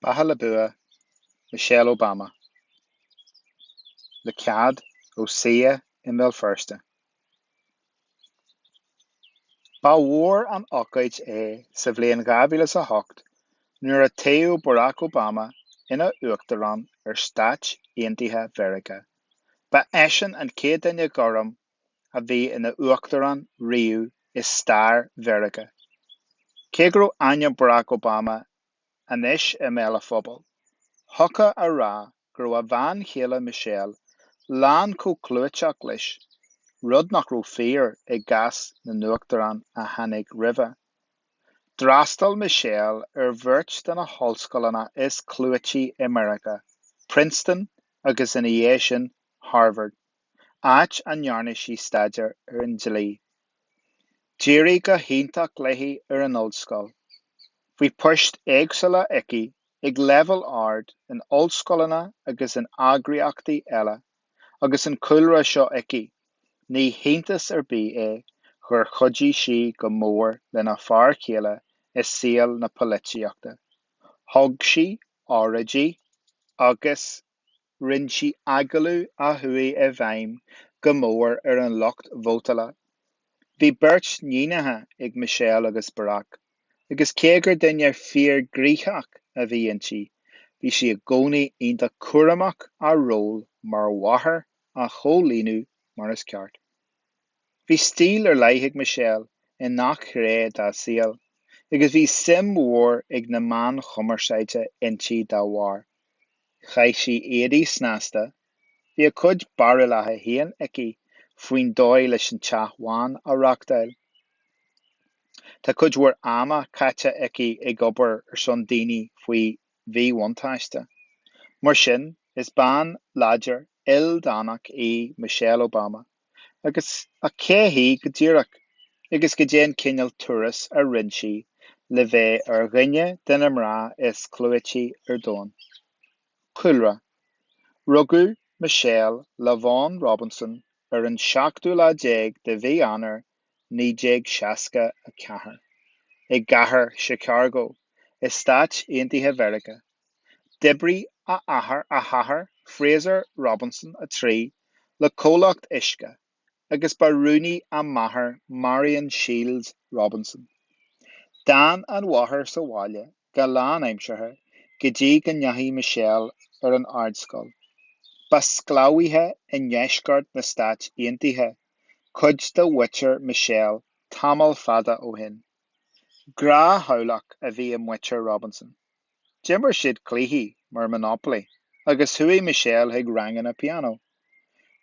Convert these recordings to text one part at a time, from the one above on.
Beatha le bua, Michelle Obama. Le cead ó Sia i mBéal Feirste. Ba mhór an ocáid é sa bhliain 2008 nuair a toghadh Barack Obama ina Uachtarán ar Stáit Aontaithe Mheiriceá. Ba eisean an chéad duine gorm a bhí ina uachtarán riamh i stair Mheiriceá. Cé go raibh ainm Barack Obama anois i mbéal an phobail, thiocfadh a rá go raibh a bhean chéile Michelle lán chomh clúiteach leis, rud nach raibh fíor i gcás na n-uachtarán a tháinig roimhe. D'fhreastail Michelle ar bheirt de na hollscoileanna is clúití i Meiriceá, Princeton agus ina dhiaidh sin Harvard. áit a ndearna sí staidéar ar an dlí. D'éirigh go hiontach léi ar an ollscoil. Bhí poist éagsúla aici ag leibhéal ard in ollscoileanna agus in eagraíochtaí eile. Agus an cúlra seo aici, ní hiontas ar bith é gur chuidigh sí go mór lena fear céile i saol na polaitíochta. Thug sí óráidí agus. rinn sí agallaimh a chuaigh i bhfeidhm go mór ar an lucht vótála. Bhí beirt níonacha ag Michelle agus Barack, agus cé gur duine fíorghnoitheach a bhí inti, bhí sí i gcónaí iontach cúramach a ról mar mháthair a chomhlíonadh mar is ceart. Bhí stíl ar leith ag Michelle i ngach gné dá saol, agus bhí suim mhór ag na meáin chumarsáide inti dá bharr. Chaith sí éadaí snasta, bhí a cuid barúlacha féin aici faoin dóigh leis an teach bhán a reáchtáil. Tá cuid mhór ama caite aici ag obair ar son daoine faoi mhíbhuntáiste. Mar sin, is bean láidir, ildánach í Michelle Obama. Ach cé hí go díreach? Agus goidé an cineál turas a rinn sí le bheith ar dhuine de na mná is clúití ar domhan? Cúlra, Rugadh Michelle LaVaughn Robinson ar an seachtú lá déag de Mhí Eanáir 1964, i gcathair Chicago, i Stáit Aontaithe Mheiriceá. D'oibrigh a athair, a hathair Fraser Robinson 3, le comhlacht uisce, agus ba rúnaí a máthair Marian Shields Robinson. D'fhan an mháthair sa bhaile go lánaimseartha go dtí go ndeachaigh Michelle ar an ardscoil. Ba sclábhaithe i ndeisceart na Stát Aontaithe cuid de mhuintir Michelle tamall fada ó shin. Gnáth-theaghlach a bhí i muintir Robinson. D'imir siad cluichí mar Monopoly agus chuaigh Michelle chuig ranganna pianó.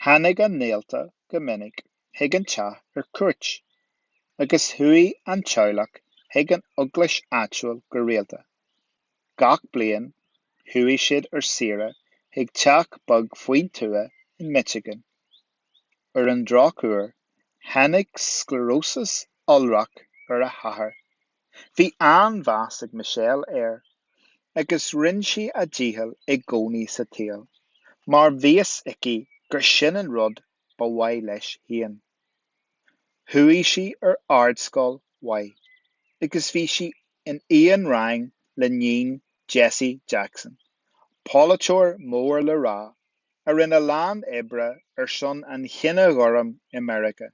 Tháinig a ngaolta go minic. chuig an teach ar cuairt, agus chuaigh an teaghlach chuig an eaglais áitiúil go rialta. Gach bliain, chuaigh siad ar saoire chuig teach beag faoin tuath in Michigan. Ar an drochuair, tháinig scléaróis iolrach ar a hathair. Bhí an-mheas ag Michelle air, agus rinne sí a dícheall i gcónaí sa saol, mar bhí fhios aici gur sin an rud ba mhaith leis féin. Chuaigh sí ar ardscoil mhaith agus bhí sí in aon rang le hiníon Jesse Jackson, polaiteoir mór le rá a rinne a lán oibre ar son an chine ghoirm i Meiriceá.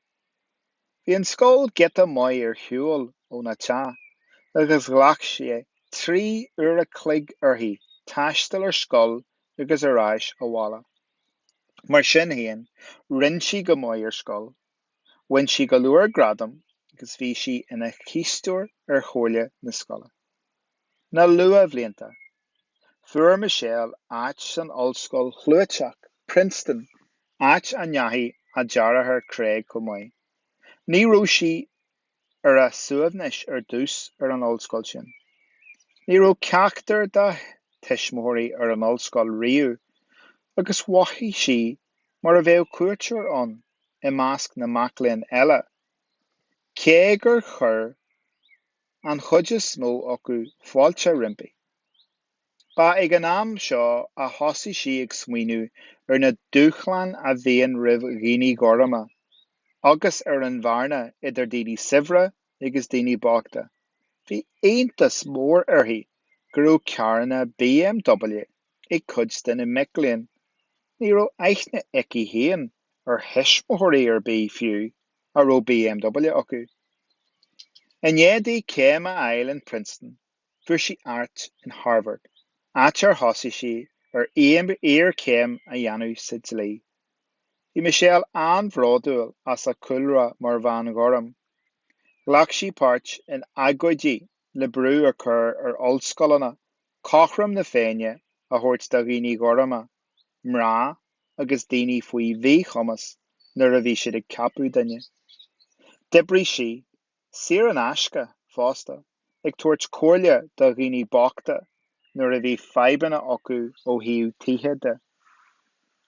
Bhí an scoil giota maith ar shiúl óna teach agus ghlac sé trí uair a chloig uirthi taisteal ar scoil agus ar ais abhaile. Mar sin féin, rinne sí go maith ar scoil, bhain sí go leor gradam agus bhí sí ina cisteoir ar chomhairle na scoile. Na luathbhlianta, fuair Michelle áit san ollscoil chlúiteach, Princeton, áit a ndeachaigh a deartháir Craig chomh maith. Ní raibh sí ar a suaimhneas ar dtús ar an ollscoil sin. Ní raibh ceachtar dá tuismitheoirí ar an ollscoil riamh agus mhothaigh sí mar a bheadh cuairteoir ann i measc na mac léinn eile, cé gur chuir an chuid is mó acu fáilte roimpi. Ba ag an am seo a thosaigh sí ag smaoineamh ar na dúshláin a bhíonn roimh dhaoine gorma agus ar an bhearna idir daoine saibhre agus daoine bochta. Bhí iontas mór uirthi go raibh carranna BMW ag cuid de na mic léinn. Ní raibh aithne aici féin ar thuismitheoirí ar bith fiú a raibh BMW acu. I ndiaidh di céim a fháil in Princeton, Fuair sí áit in Harvard, áit ar thosaigh sí ar iarchéim a dhéanamh sa dlí. Bhí Michelle an-bhródúil as a cúlra mar bhean ghorm. Ghlac sí páirt in agóidí le brú a chur ar ollscoileanna cothrom na Féinne a thabhairt do dhaoine gorma, mná agus daoine faoi mhíchumas nuair a bhí siad ag ceapadh duine. D'oibrigh sí saor in aisce fosta, ag tabhairt comhairle do dhaoine bochta nuair a bhí fadhbanna acu ó thaobh tithe de.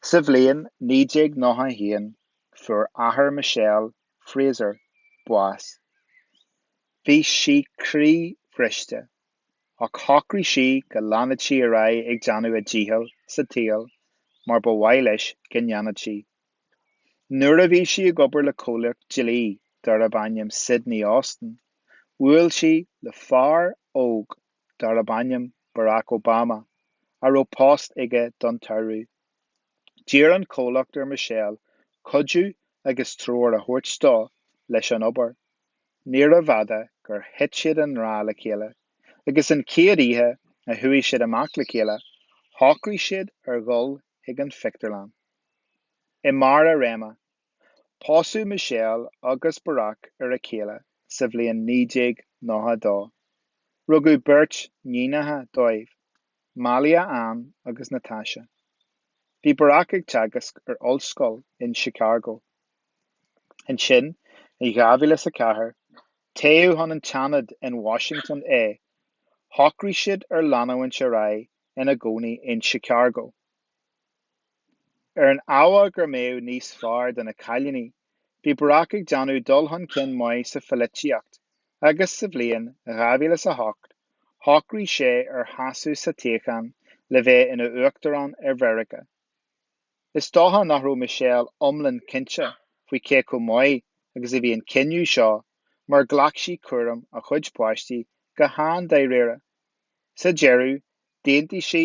Sa bhliain 1991 fuair athair Michelle, Fraser, bás. Bhí sí croíbhriste, ach shocraigh sí go leanfadh sí ar aghaidh ag déanamh a dícheall sa tsaol mar ba mhaith leis go ndéanfadh sí. Nuair a bhí sí ag obair le comhlacht dlí darb ainm Sidley Austin, bhuail sí le fear óg darb ainm Barack Obama, a raibh post aige don tsamhradh. D'iarr an comhlacht ar Michelle cuidiú agus treoir a thabhairt dó leis an obair. Níorbh fhada gur thit siad i ngrá le chéile, agus an chéad oíche a chuaigh siad amach le chéile, shocraigh siad ar dhul chuig an phictiúrlann. I Mí na Samhna pósadh Michelle agus Barack ar a chéile sa bhliain 1992. Rugadh beirt níonacha dóibh, Malia Ann agus Natasha. Bhí Barack ag teagasc ar ollscoil in Chicago. Ansin, i dhá mhíle is a ceathair, toghadh chun an tSeanaid in Washington é. Shocraigh siad ar leanúint ar aghaidh ina gcónaí in Chicago ar an ábhar go mbeadh níos fearr do na cailíní, bhí Barack ag déanamh dul chun cinn maith sa phoilitíocht agus sa bhliain dhá mhíle is a hocht shocraigh sé ar sheasamh sa toghchán le bheith ina Uachtarán ar Mheiriceá. Is dócha nach raibh Michelle iomlán cinnte faoi cé chomh maith agus a bhí an cinneadh seo mar ghlac sí cúram a cuid páistí go han-dáiríre. Sa deireadh, d'aontaigh sí,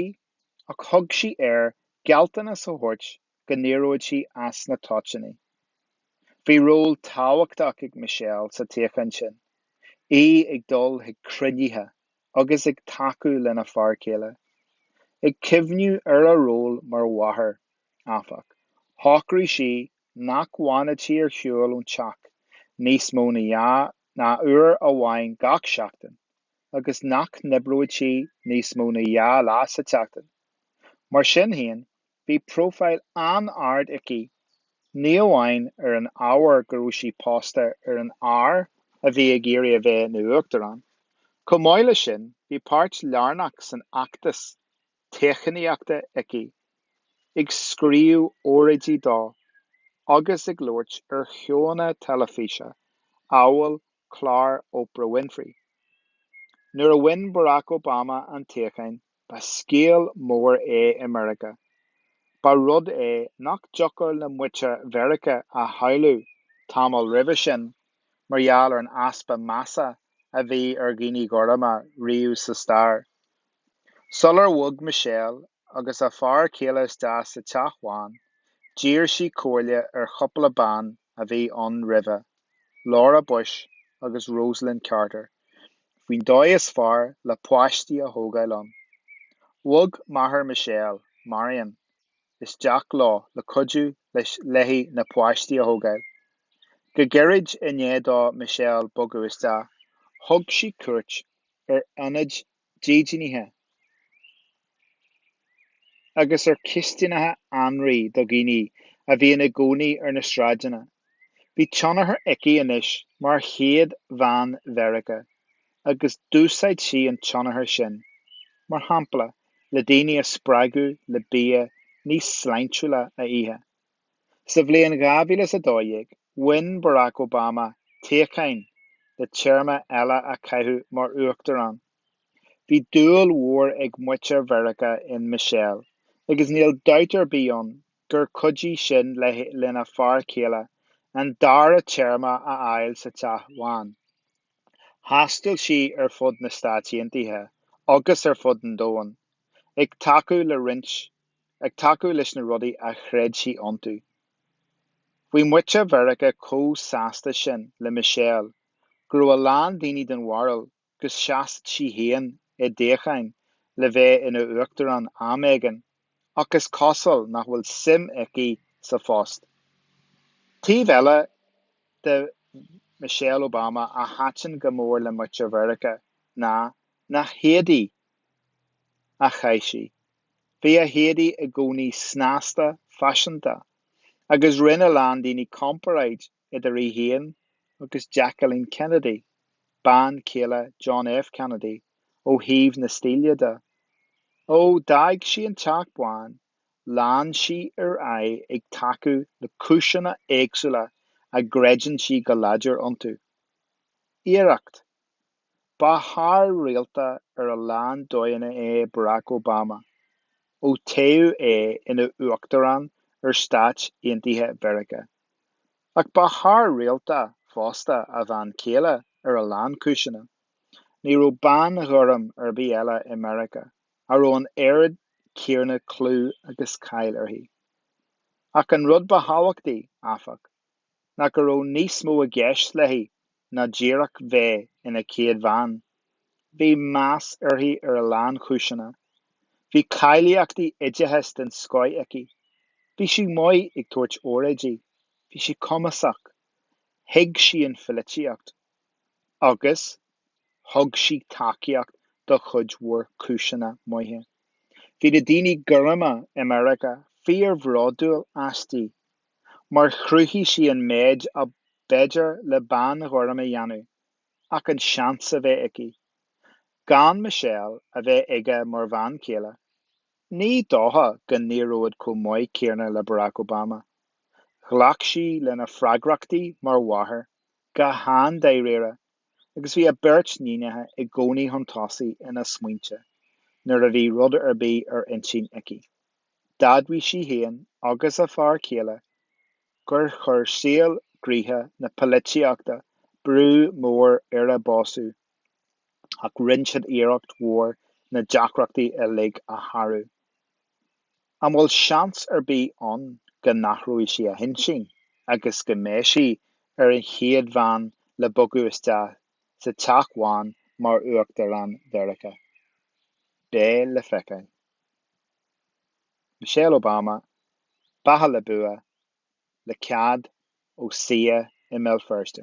ach thug sí air gealltanas a thabhairt go n-éireodh sé as na toitíní. Bhí ról tábhachtach ag Michelle sa toghchán sin, í ag dul chuig cruinnithe agus ag tacú lena fear céile. Ag cuimhniú ar a ról mar mháthair, áfach, shocraigh sí nach bhfanfadh sí ar shiúl ón teach níos mó ná uair amháin gach seachtain, agus nach n-oibreodh sí níos mó ná dhá lá sa tseachtain. Mar sin féin, bhí próifíl an-ard aici, ní amháin ar an ábhar go raibh sí pósta ar an fhear a bhí ag iarraidh a bheith ina Uachtarán. Chomh maith leis sin, bhí páirt lárnach san fheachtas toghchánaíochta aici, ag scríobh óráidí dó agus ag labhairt ar sheóanna teilifíse amhail clár Oprah Winfrey. Nuair a bhain Barack Obama an toghchán, ba scéal mór é i Meiriceá. Ba rud é nach dtiocfadh le muintir Mheiriceá a shamhlú tamall roimhe sin mar gheall ar an easpa measa a bhí ar dhaoine gorma riamh sa stair. Sular bhog Michelle agus a fear céile isteach sa Teach Bhán, d'iarr sí comhairle ar chúpla bean a bhí ann roimhe, Laura Bush agus Rosalynn Carter, faoin dóigh is fearr le páistí a thógáil ann. Bhog máthair Michelle, Marion, isteach leo le cuidiú léi na páistí a thógáil. Go gairid i ndiaidh do Michelle bogadh isteach, thug sí cuairt ar ionaid dídeanaithe agus ar chistineacha anraí do dhaoine a bhíonn i gcónaí ar na sráideanna. Bhí tionchar aici anois mar chéad bhean Mheiriceá agus d'úsáid sí an tionchar sin, mar shampla, le daoine a spreagadh le bia níos sláintiúla a ithe. Sa bhliain 2012, bhain Barack Obama toghchán le téarma eile a chaitheamh mar uachtarán. Bhí dúil mhór ag muintir Mheiriceá in Michelle agus níl dabht ar bith ann gur chuidigh sin lena fear céile an dara téarma a fháil sa Teach Bhán. Thaistil sí ar fud na Stáit Aontaithe agus ar fud an domhain ag tacú le roinnt ag tacú leis na rudaí a chreid sí iontu. Bhí muintir Mheiriceá chomh sásta sin le Michelle go raibh a lán daoine den bharúil go seasfadh sí féin i dtoghchán le bheith ina huachtarán am éigin, ach is cosúil nach bhfuil suim aici sa phost. Taobh eile de Michelle Obama a thaitin go mór le muintir Mheiriceá ná na héadaí a chaith sí. Bhí a héadaí i gcónaí snasta, faiseanta, agus rinne a lán daoine comparáid idir í féin agus Jacqueline Kennedy, bean chéile John F. Kennedy, ó thaobh na stíle de. Ó d'fhág sí an Teach Bán, lean sí ar aghaidh ag tacú le cúiseanna éagsúla a gcreideann sí go láidir iontu. Iarracht. Thar rialta ar a lán dóigheanna é Barack Obama ó toghadh é ina Uachtarán ar Stáit Aontaithe Mheiriceá. Ach ba thar rialta fosta a bhean chéile ar a lán cúiseanna. Ní raibh bean ghorm ar bith eile i Meiriceá a raibh an oiread céanna clú agus cáil uirthi. Ach an rud ba thábhachtaí, áfach, ná go raibh níos mó i gceist léi ná díreach bheith ina céad bhean. Bhí meas uirthi ar a lán chúiseanna. Bhí cáilíochtaí oideachais den scoith aici. Bhí sí maith ag tabhairt óráidí. Bhí sí cumasach. Thuig sí an phoilitíocht. Agus thug sí tacaíocht do chuid mhór cúiseanna maithe. Bhí na daoine gorma i Meiriceá fíor-bhródúil aisti. mar chruthaigh sí an méid ab fhéidir le bean ghorm a dhéanamh ach an seans a bheith aici gan Michelle a bheith aige mar bhean chéile. Ní dócha go n-éireodh chomh maith céanna le Barack Obama. Ghlac sí lena freagrachtaí mar mháthair go han-dáiríre agus bhí a beirt níonacha i gcónaí chun tosaigh ina smaointe nuair a bhí rud ar bith ar intinn aici. d'admhaigh sí féin agus a fear céile gur chuir saol gnoitheach na poilitíochta brú mór ar a bpósadh ach rinne siad iarracht mhór na deacrachtaí uilig a shárú. An bhfuil seans ar bith ann go n-athróidh sí a hintinn agus go mbeidh sí ar an chéad bhean le bogadh isteach sa Teach Bhán mar Uachtarán Mheiriceá? Beidh le feiceáil. Michelle Obama, Beatha le bua, le cead ó CCEA i mBéal Feirste.